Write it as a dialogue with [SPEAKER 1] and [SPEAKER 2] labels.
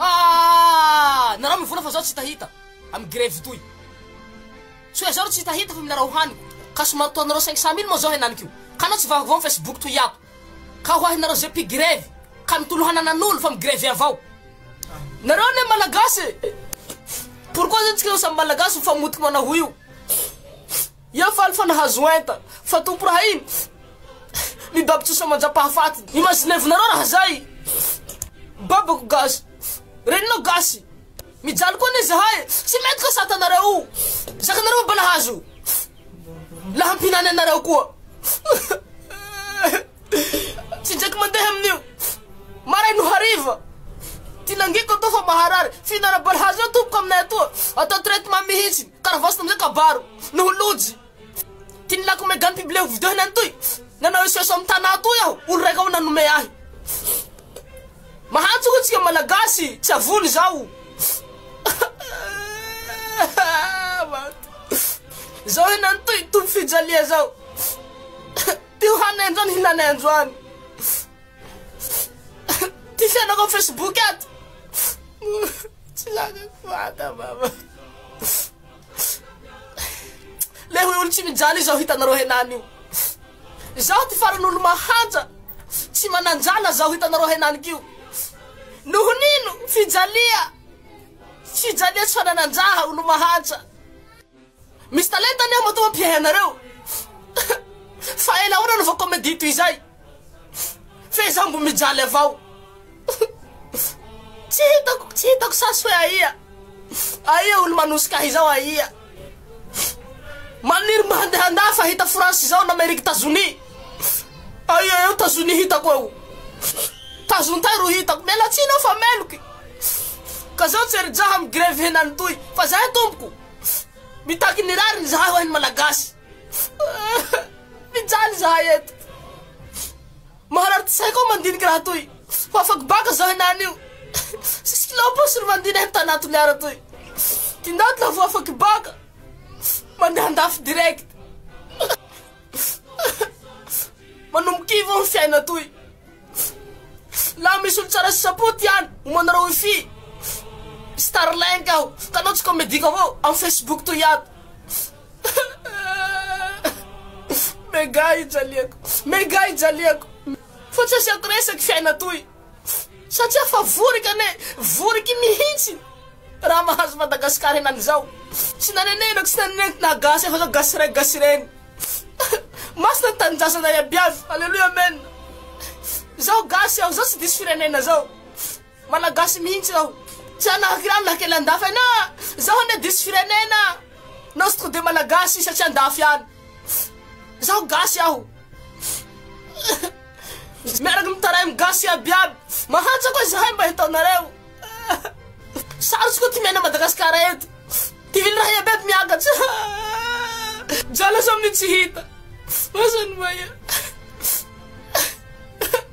[SPEAKER 1] Ah! Narao mivola fa zaho tsy hitahita amin'ny grevy toy. Tsy hoe zaho tsy hitahita fa minarao haniko. Ka somary toa anareo cinq cent mille moa zao henaniko. Ka anao tsy vaovao amin'ny Facebook toy ato. Ka ho ahy nareo ze mpigrevy ka mitolo hananan'olo fa migrevy avao. Nareo anie malagasy e! Pourquoi zany tsika samy malagasy mifamotika manao io? Ia faly fa nahazo enta fa tompo raha iny mi babotso sa manjapahafaty ny mazinevonareo raha zay babako gasy reninao gasy mijaly koa anie zahay e tsy mety ka satanareo o zakanareo mba nahazo lahampinany anareo koa tsy jaky mandeha amin'io maray no hariva ty nangiko atao fa maharary fihinana balahazo eo tompoko aminay atoa atao traitement mihitsy Karavasy namzay kabaro noho lojy Ty ny lako megan pibleo video heny antoy Nanao SOS am Tana toy aho Olo raika ao nanome ahy Mahantsy hoy tsika malagasy Tsy avony zao Zao heny antoy Tompo fijalia zao Ty ho hanay androany hilanay androany Ty fiainako am Facebook ato Tsy lakako vata mama Le hoe olo tsy mijaly izao hitanareo henany io. Zaho ty farany olo mahantra, tsy mananjala zaho hitanareo henany kio. Noho nino fijalia, fijalia tsy fanananjaha olo mahantra. Misy talenta anie matoa mpiahy anareo. Fa ela ahoana no vao comedy toy izay. F'ezaho mbo mijaly avao Tsy hitako, tsy hitako sasy hoe aia Aia olo manosika ahy zao aia Maniry mba handeha an-dahy fa hita France izao na Amerique Tazonia Aia eo Tazonia hitako eo Tazontay ro hitako Miala tsiny aho fa meloky Ka zao tsy ri-jaha mi-grevy henany toy Fa zay tompoko Mitaky ny rariny zahay hoahy ny Malagasy Mijaly zahay eto. Maharary tsy saiko aho mandinika raha toy. Fa afako baka zahay na anio. Sisy kilao paosy ry mandina eto tana Toliara toy. Tindaty la vao afaky baka. Mandeha andafy direct. Manomboka ivo ny fiaina toy. La misy olo tsara sy sapoty ihany, omanareo wifi. Starlink aho, kanao tsy komediko avao, am Facebook toy ato. Mega ijaliako Mega ijaliako Fa tsy asiako resaky fiaina toy Satria fa vorika anie Voriky mihintsy Raha mahazo Madagascar henany zao Tsy nanenenako tsy nanenenako na gasy efa zao gasy ray gasy reny Masina ny tanindrazana iabiaby Aleloia Amen Zao gasy aho zao tsy diso firenena zao. Malagasy mihintsy zao tsy hanahaka irany na kely andafy any ah! Zaho anie diso firenena ah! Nostro de Malagasy satria andafy any! Zaho gasy aho! Miaraka mitaraim gasy iaby iaby! Mahantra koa zahay mba hitaonareo! Sarotsy koa ty miaina Madagascar eto! Tivily raha iaby iaby miakatra! Jala zao amin'ny tsy hita! Asa ny maia!